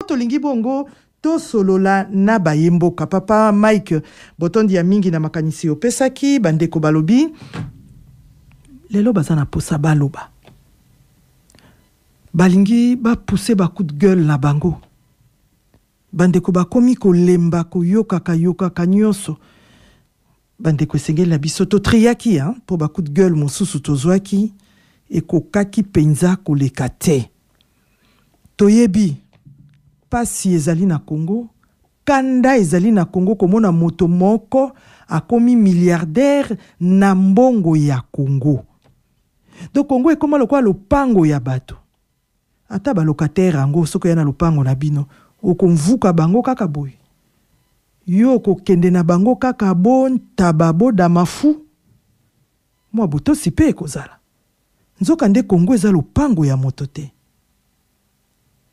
tolingi bongo tosolola na baye mboka papa mike botondi ya mingi na makanisi opesaki bandeko balobi lelo baza na posa baloba balingi bapuse bacoup de gueule na bango bandeko bakomi kolemba koyokaka yokaka nyonso Bandeko esengeli na biso to triaki hein, mpo ba coup de gueule mosusu tozwaki ekokaki mpenza koleka te. Toyebi pasi ezali na Congo, kanda ezali na Congo komona moto moko akomi milliardaire na mbongo ya Congo. Donc Congo ekoma lokola lopango ya bato. Ata ba locataire yango soki oya na lopango na bino oko mvuka bango kaka boye? Yo oko kende na bango kaka bo ntaba bo damafu? Mua botosi pe eko zala. Nzoka nde Congo eza lopango ya moto te.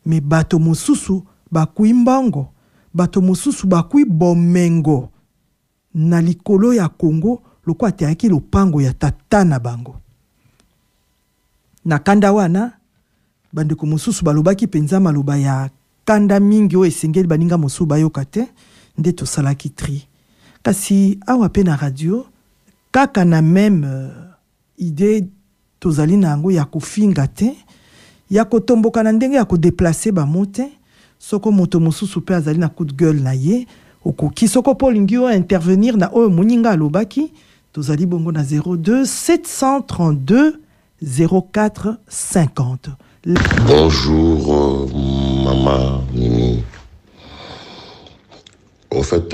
Mais bato mosusu bakui mbongo, bato mosusu bakui bomengo. na likolo ya Congo lokola teyaki lopango ya tata na bango. Na kanda wana, bandeko mosusu balobaki mpenza maloba ya kanda mingi oyo esengeli baninga mosusu bayoka te, nde tosalaki tri. Kasi awa mpe na radio, kaka na meme. Idee tozali na yango ya kofinga te, ya kotomboka na ndenge ya ko deplacer ba mots te. Soko moto mosusu pe azali na coup de gueule na ye, okoki, soko pe olingi o intervenir na oyo moninga alobaki, tozali bongo na 02732045. Bonjour maman mimi au fait.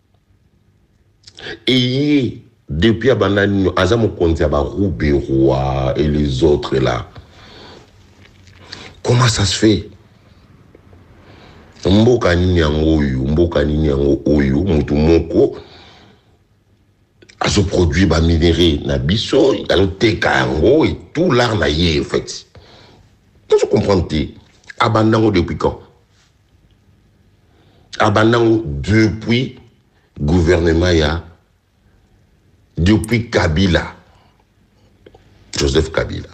Eye depuis abanda nino aza mokonzi ya ba ruberwa et les autres là comment ça se fait mboka nini yango oyo mboka nini yango oyo moto moko azoproduire baminere na biso azoteka yango etout lar na ye en fait nazo comprendre te abanda yango depuis quand abanda ngo depuis gouvernement ya depuis kabila joseph kabila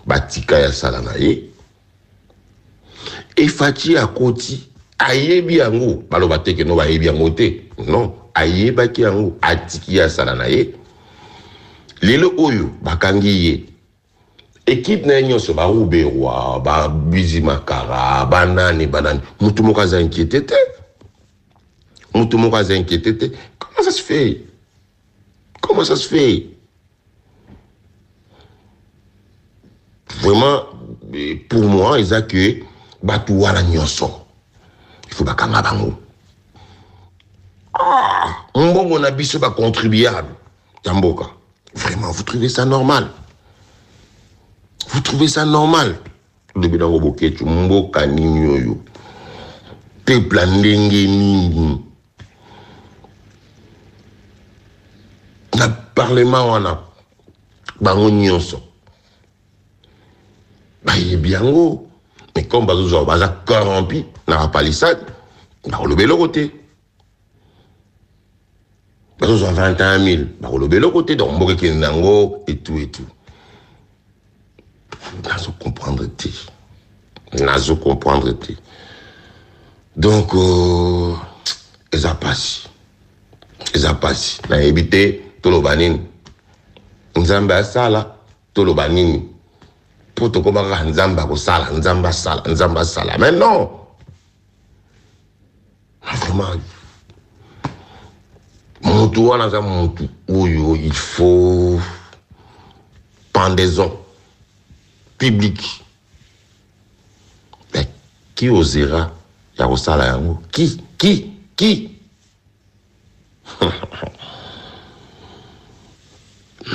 batika ya sala na ye efaci akoti ayebi yango baloba te keno bayebi yango te non ayebaki yango atiki ya sala na ye lelo oyo bakangi ye Equipe naye nionso ba ruberwa ba bizi makara ba nani ba nani mutu moko aza inquiete te mutu moko aza inquiete te comment ça se fait comment ça se fait vraiment eh, pour moi eza que batu wana nionso il faut bakanga bango ah, mbongo na biso ba contribuable ya mboka vraiment vous trouvez ça normal vous trouvez ça normal lobi nango boketsu mboka nini oyo peuple ya ndenge nini na parlement wana bango nyonso bayebi yango mais comme bazozwa baza corrompu na bapalisade bakoloba eloko te bazozwa 21000 bakoloba eloko te donc mboka ekende yango etu etu nazo comprendre te nazo comprendre te donc euh, eza pasi eza pasi nayebi te toloba nini nzambe asala toloba nini mpo tokoma kaka nzambe akosala nzambe asala nzambe asala mais non vraiment mutu wana aza mutu oyo il faut pendaison publique mais qui osera ya kosala yango qui qui qui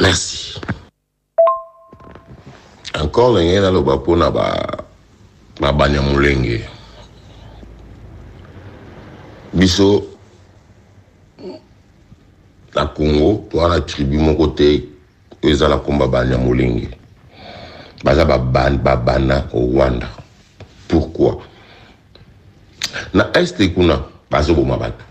merci Encore ndenge naloba mpo na ba na Banyamulenge, biso na Congo toza na tribu moko te oyo eza na kombo ya Banyamulenge, baza ba babana o Rwanda. Pourquoi? Na Est kuna bazoboma batu.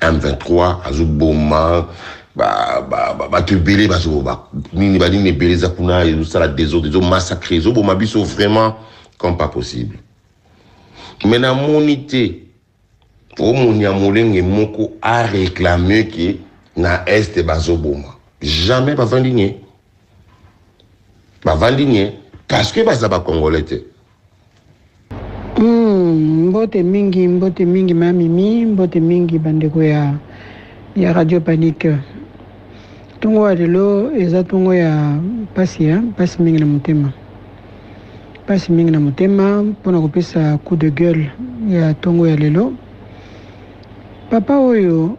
M23 azoboma bato ebele bazoba nini banini ebele eza kuna ezosala desordre ezomassacre ezoboma biso vraiment comme pas possible me namoni te omoni ya molenge moko areklame ke na este bazoboma jamais bavandi nie bavandi nie parce que baza bacongolais te Hum mbote mingi mbote mingi ma mimi mbote mingi bandeko ya ya radio panique ntongo ya lelo eza ntongo ya mpasi ya mpasi mingi na motema mpasi mingi na motema mpo na kopesa coup de gueule ya ntongo ya lelo papa oyo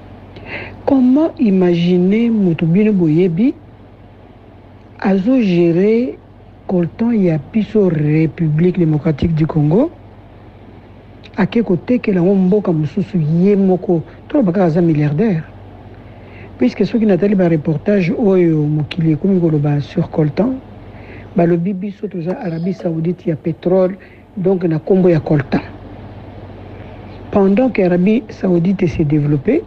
Comment imaginer mutu bino boyebi azo gere coltan ya biso Republique Democratique du Congo ake kotekela ngo mboka mususu ye moko toloba kaka aza milliardaire puisque soki natali ba reportage oyo mokili ekomi koloba sur coltan balobi biso toza Arabie Saoudite ya petrole Donc na kombo ya coltan pendant que Arabie Saoudite se developper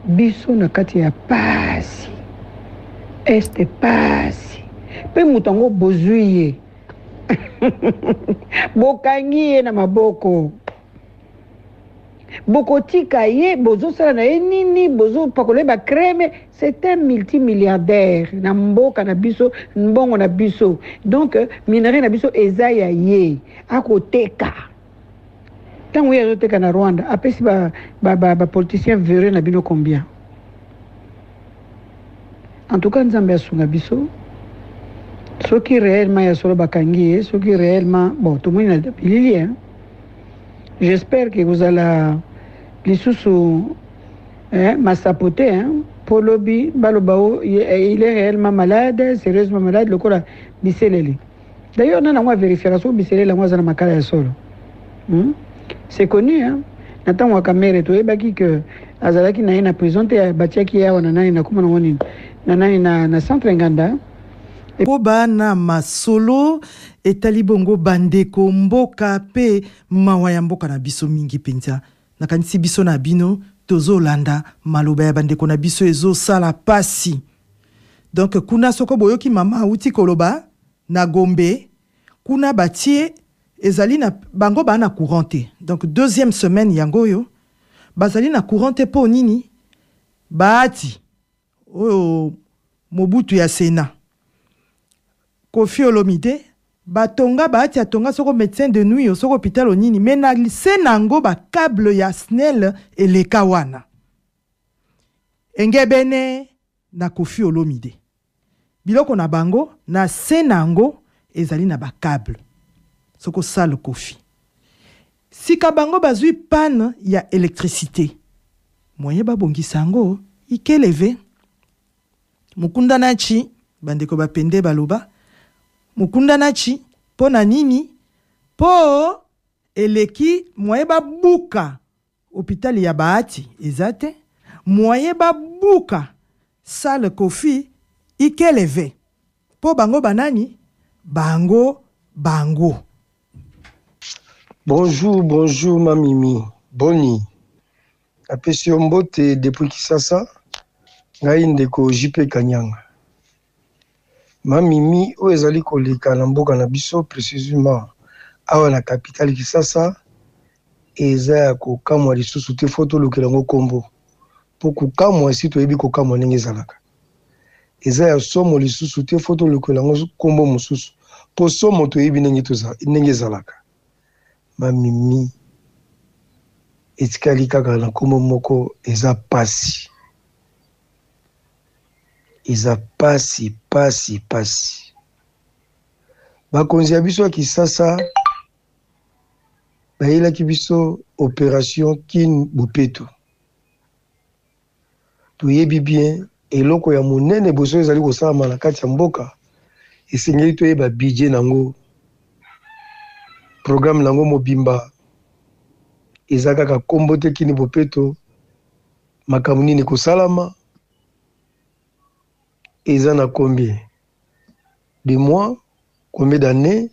biso na kati ya pasi este pasi mpe moto yango bozwi ye bokangi ye na maboko bokotika ye bozosala na ye nini bozopakola ye bacreme c'est un multimilliardaire na mboka na biso mbongo na biso donc euh, minerai na biso eza ya ye akoteka ntango ye azoteka na rwanda apesi bapoliticien ba, ba, ba vereux na bino combien En tout cas nzambe asunga biso soki reellement ya solo bakangi ye soki reellement bon tomoni na bilili hein j'espère que kozala lisusu hein, masapo te hein, mpo lobi baloba o il est réellement malade sérieusement malade lokola biselele D'ailleurs nani yango a verifiaka soki biselele yango aza na makala ya solo hmm? C'est connu hein? na ntango ya kamere toyebaki ke azalaki na ye na prison te batiaki ye awa na nani na komona ngo nini na nani na, na centre nganda mpo bana masolo etali bongo bandeko mboka mpe mawa ya mboka na biso mingi mpenza nakanisi biso na bino tozolanda maloba ya bandeko na biso ezosala mpasi Donc kuna soko boyoki mama awuti koloba na Gombe kuna batie ezali na bango baa na courant te donc deuxième semaine yango oyo bazali na courant te mpo nini baati oyo mobutu ya sena kofi olomide batonga baati atonga soko médecin de nuit soko hôpital onini me na se na yango bacable ya snel eleka wana Engebene na Koffi Olomide, biloko na bango na se na yango ezali na ba cable soko salle Koffi. Sika bango bazui panne ya electricite, moyen babongisa yango ikeleve. Mukunda Nachi, bandeko ba Pende baloba, Mukunda Nachi, po na nini? Po eleki moyen babuka Hopital ya Bahati eza te. Moyen ba buka salle koffi ikeleve po bango ba nani bango bango. Bonjour bonjour ma mimi boni napesi yo mbote depuis kisasa ngai ndeko JP kanyanga. Ma Mimi, oyo ezali koleka na mboka na biso, precisement awa na capitale Kisasa, eza ya kokamwa lisusu te, faut tolukela yango kombo po kokamwa esi toyebi kokamwa ndenge ezalaka. Eza ya somo lisusu te, faut tolukela yango kombo mosusu po somo toyebi ndenge tozali, ndenge ezalaka. Ma Mimi, etikali kaka na kombo moko, eza pasi. Eza pasi pasi pasi bakonzi ya biso ya kisasa bayelaki biso operation kin bopeto toyebi bien eloko ya monene boso ezali kosalama na kati ya mboka esengeli toyeba budget na yango programme na yango mobimba eza kaka nkombo te kini bopeto Makambo nini ekosalama eza na combien de mois combien d'année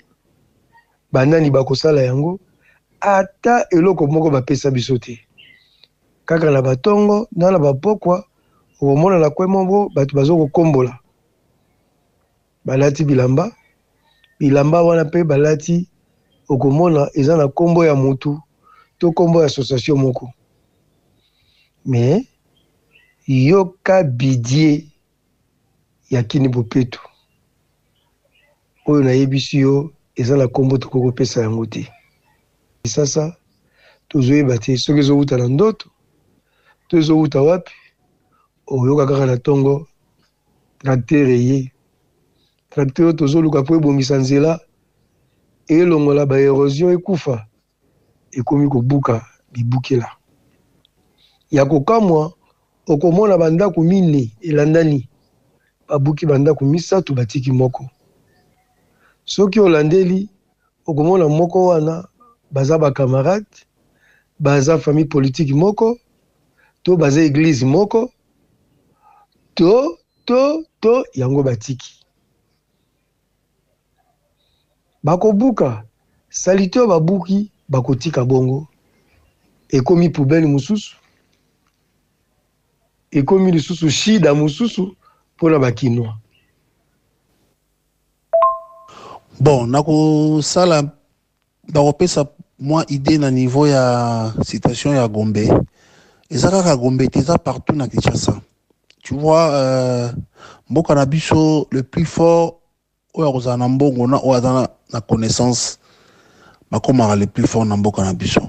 banani bakosala yango ata eloko moko bapesa biso te kaka na batongo na na bapokwa okomona na kwe moko bato bazokokombola Balati bilamba, bilamba wana pe balati okomona eza na kombo ya mutu to kombo ya association moko mais yoka bidie ya kini bopeto oyo nayebisi yo eza na kombo tokoki kopesa yango te sasa tozoyeba te soki ezowuta na ndoto to ezowuta wapi oyoka kaka na tongo Tracteur eye. Tracteur oyo tozo luka po ebongisa nzela, elongola ba erosion ekufa, ekomi ko buka bibukela. Ya ko kamwa, oko mona ba ndaku mine elandani, ba buki ba ndaku misatu ba tiki moko. Soki o landeli, oko mona moko wana baza ba camarades, baza famille politique moko, to baza eglise moko. to to to yango batiki bakobuka salite oyo babuki bakotika bongo ekomi poubele mosusu ekomi lisusu shida mosusu mpona bakinois bon nakosala Nakopesa mwa idee na niveau ya citation ya Gombe. Eza kaka Gombe te, eza partout na Kinshasa. Tu vois, euh, mboka na biso le plus fort oyo akozala na mbongo na oyo aza na connaissance bakomaka le plus fort na mboka na biso.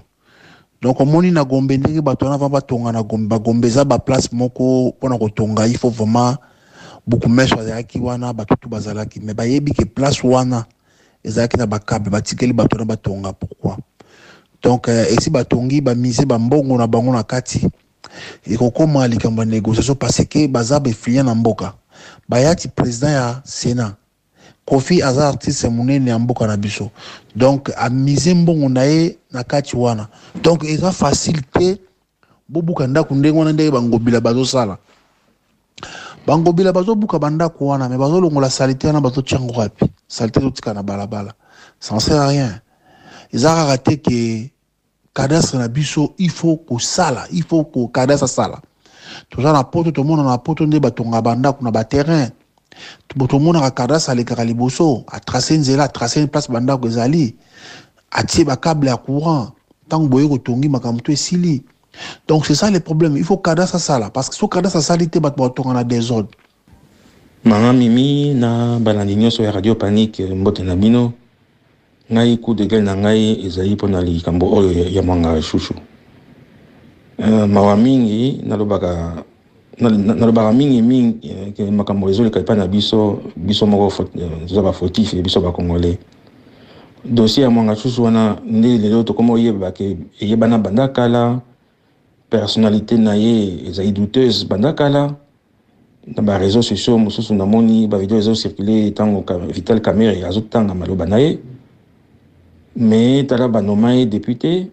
Donc omoni na Gombe ndenge bato wana va batonga na Gombe, ba Gombe eza ba place moko pona kotonga il faut vraiment bukumeso azalaki wana bato tout bazalaki mais bayebi ke place wana ezalaki na bakabe batikeli bato wana batonga pourquoi donc euh, esi batongi bamise bambongo na bango na kati ekokoma likambo ya négociation parce que baza befliya na mboka bayati président ya sénat Koffi aza artiste munene ya mboka na biso donc a mise mbongo na ye na kati wana donc eza facile te bobuka ndaku ndenge wana ndenge bangobila bazosala bangobila bazobuka bandaku wana me bazolongola salite wana bazotia ngo wapi salite ezotika na balabala ça ne sert à rien eza kaka te ke cadastre na biso il faut kosala il faut ko cadastre asala toza na poto tomona na poto nde batonga bandako na baterrain tomonaka cadastre alekaka liboso atrace nzela atrace place bandako ezali atie bakable ya courant ntango boye kotongi makambo to esili donc c'est ça le problème il faut cadastre asala parce que so cadastre asali te bato batonga na desordre Maman Mimi na balandi nyoso ya Radio Panic mbote na bino. Ngai coup de gueule na ngai ezali mpo na likambo oyo ya- ya Mwanga Shushu. Euh, mawa mingi nalobaka na- na- nalobaka mingi mingi eh, ke makambo ezoleka epai na biso biso moko fo- eh, toza bafautif ya biso bacongolais dossier ya mwanga susu wana nde lelo tokoma oyeba ke eyebana banda kala personnalité na ye ezali douteuse banda kala na ba reseaux sociaux mosusu namoni ba video ezo circuler ntango Vital Kamerhe azotanga maloba na ye mais tala banoma ye depute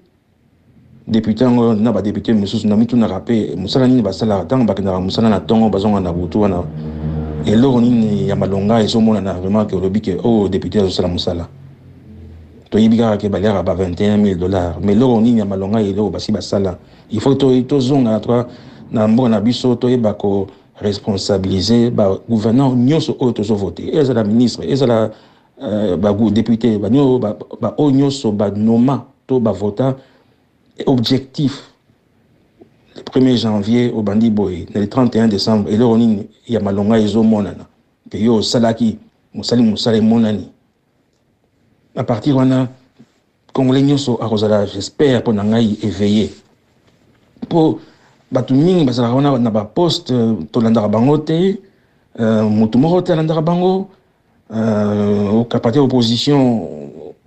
depute yango na badepute mosusu na mitunaka mpe mosala nini basalaka ntango bakendaka mosala na ntongo bazonga na butu wana eloko nini ya malonga ezomonana vraiment ke olobi ke oyo oh, depute azosala mosala toyebi kaka ke baliaka ba 21 000 dollars mais eloko nini ya malonga eloko basi basala Il faut to tozonga na toi na mboka na biso toyeba ko responsabiliser ba gouverneur nyonso oyo tozo vote ezala ministre ezala euh, ba député ba nyo ba, ba oyo nyonso ba noma to ba vota objectif le 1er janvier obandi boye na le 31 décembre eloko nini ya malonga ezomonana mpe yo osalaki mosali mosala emonani à partir wana congolais nyonso akozala j'espère mpo na ngai éveillé mpo bato mingi bazalaka wana na baposte euh, tolandaka bango te euh, motu moko te alandaka bango euh, okapate opposition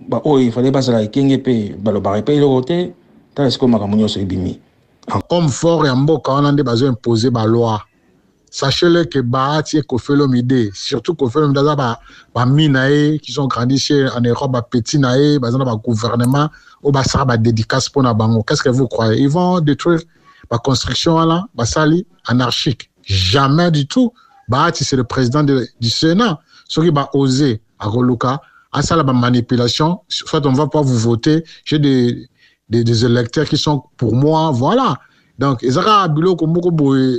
baoyo efale bazala ekenge mpe balobaka mpe eloko te tala sikoyo makambo nyonso ebimi homme fort ya mboka wana nde bazo impose baloi Sachez le que Bahati et Koffi Olomide, surtout Koffi Olomide aza ba ba mi na ye qui sont grandis chez en Europe ba petits na ye baza na ba gouvernement oyo basala ba dédicace mpo na bango qu'est-ce que vous croyez ils vont détruire ba construction wana basali anarchique jamais du tout Bahati c'est le président de, du Sénat soki ba oser akoluka asala ba manipulation soit on va pas vous voter j'ai des, des, des électeurs qui sont pour moi voilà donc ezaka biloko moko boye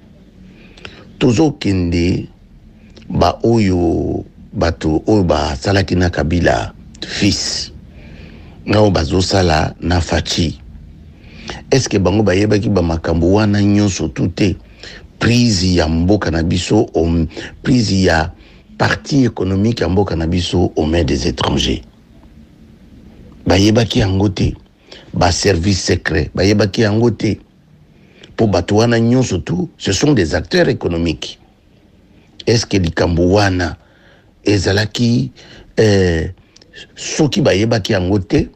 tozokende baoyo bato oyo basalaki na kabila fils nao bazosala na faci eske bango bayebaki bamakambo wana nyonso tu te prise ya mboka na biso um, prise ya parti économique ya mboka na biso au main des étrangers bayebaki yango te baservice secret bayebaki yango te po bato wana nyonso tout ce sont des acteurs économiques est ce que likambo wana ezalaki euh, soki bayebaki yango te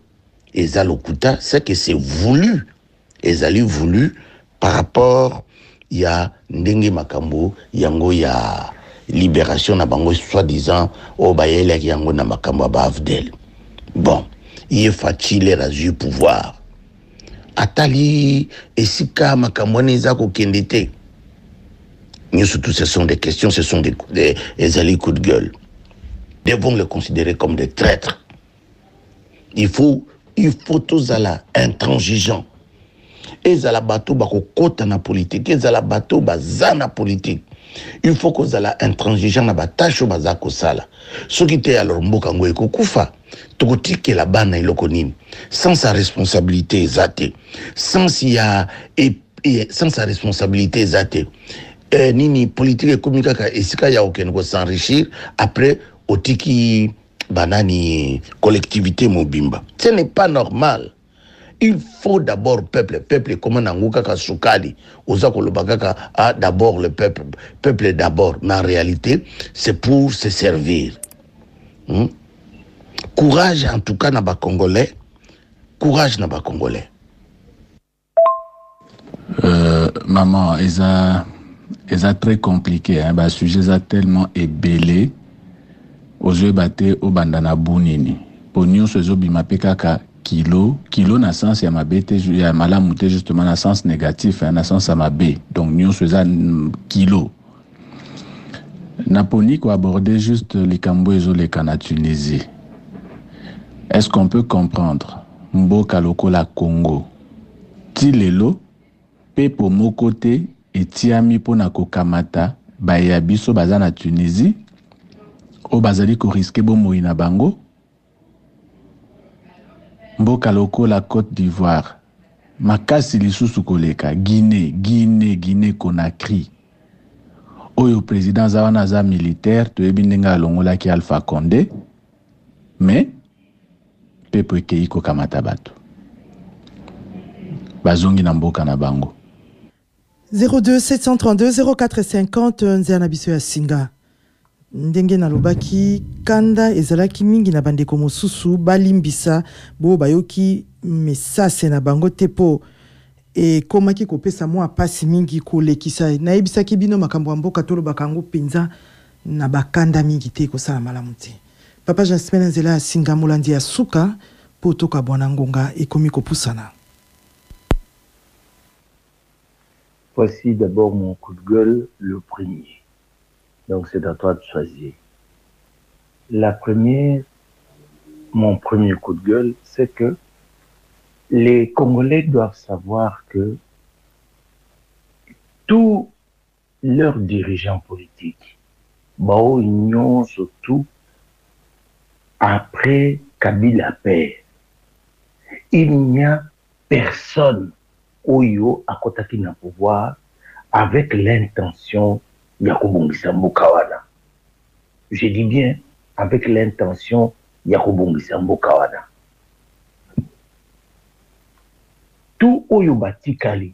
eza lokuta c'est que c'est voulu ezali voulu par rapport ya ndenge makambo yango ya libération na bango soi-disant oyo bayelaki yango na makambo ya baafdel bon ye facile azwi pouvoir atali esika makambo wana eza kokende te nyonso tout ce sont des questions ce sont des, des, ezali coup de gueule devons le considérer comme des traîtres il faut il faut tozala intransigeant ezala bato bakokɔta na politike ezala bato baza na politike il faut kozala intransigeant na batashe oyo baza kosala soki te alors mboka yango ekokufa tokotikela bana eloko nini sens ya responsabilité eza te sens ya e, e, sens ya responsabilité eza te eh, nini politike ekomi kaka esika ya okende kosenrichir après otiki banani collectivité mobimba ce n'est pas normal Il faut d'abord peuple, peuple ekoma nango kaka sukali. Oza koloba kaka ah d'abord le peuple, peuple d'abord, mais en réalité c'est pour se servir. Hmm? Courage en tout cas na ba congolais, courage na ba congolais. Euh, maman, eza, eza très compliqué. Hein? Ba sujet eza tellement ebele. ozoyeba te obanda na bu nini mpo nyonso ezobima mpe kaka kilo kilo na sens ya mabe te ya malamu te justement na sens négatif hein, na sens ya mabe donc nyonso eza kilo naponi koaborde juste likambo ezoleka na tunisie est ce qu'on peut comprendre mboka lokola congo Tii lelo, pepo moko te etiami mpo na kokamata baye ya biso baza na Tunisie, oyo bazali ko risquer bomoi na bango. Mboka lokola Cote d'Ivoire, makasi lisusu koleka, Guinee, Guinee, Guinee Conakry, oyo president aza wana aza militaire, toyebi ndenge alongolaki Alpha Conde, mais Pepo ekeyi kokamata bato. Bazongi na mboka na bango. 0273200450 nzela na biso ya singa. Ndenge nalobaki, kanda ezalaki mingi na bandeko mosusu balimbisa bo bayoki mesase na bango te po ekomaki kopesa mua pasi mingi kolekisa. Nayebisaki bino makambo ya mboka tolobaka yango penza na ba kanda mingi te ekosala malamu te. Papa Jasmin na nzela ya singa molandi ya suka po tokabwana ngonga ekomi kopusana. Voici d'abord mon coup de gueule le premier donc c'est à toi de choisir la première mon premier coup de gueule c'est que les congolais doivent savoir que tout Leurs dirigeants politiques ba oyo nionso tout après kabila père il n'y a personne oyo akotaki na pouvoir avec l'intention ya kobongisa mboka wana je dis bien avec l'intention ya kobongisa mboka wana tout oyo batikali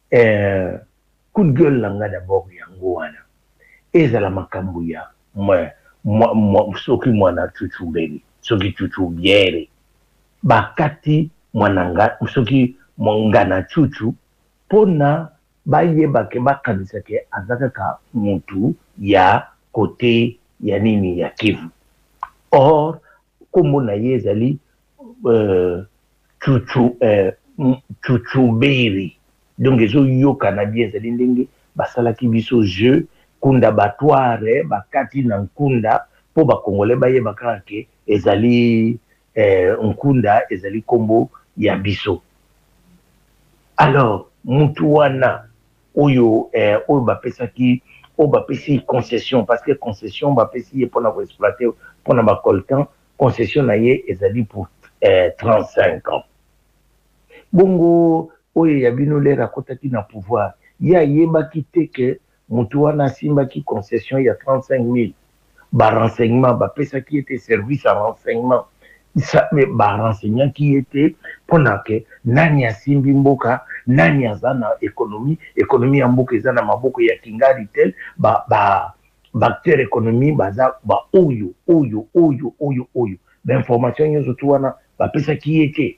Eeh coup de gueule na nga d'abord yango wana ezala makambu ya soki muana chuchu beri soki chuchu biere ba kati muana nga soki nga na chuchu po na ba yeba ke ba kanisa ke aza kaka mutu ya cote ya nini ya kivu or Kombo na ye ezali Chuchuberry donc ezo yokana bien ezali ndenge basalaki biso jeux kunda batware bakati na nkunda po ba congolais bayeba kaka ke ezali nkunda ezali kombo ya biso alors mutu wana oyo eh, oyo bapesaki oyo bapesi concession parce que concession bapesi ye pona ko exploiter pona ba coltan concession na ye ezali pour eh, 35 ans bongo oyo ya bino lere akotaki na pouvoir ye ayebaki te ke mutu wana asimbaki concession ya 35000 ba renseignements ba pesaki ye te service ya renseignements ba renseignaki ye te pona que nani asimbi mboka nani aza na economie economie ya mboka eza na maboko ya kingaritel ba ba acteurs economie baza ba oyo oyo oyo oyo oyo ba informations nionso tout wana ba pesaki ye te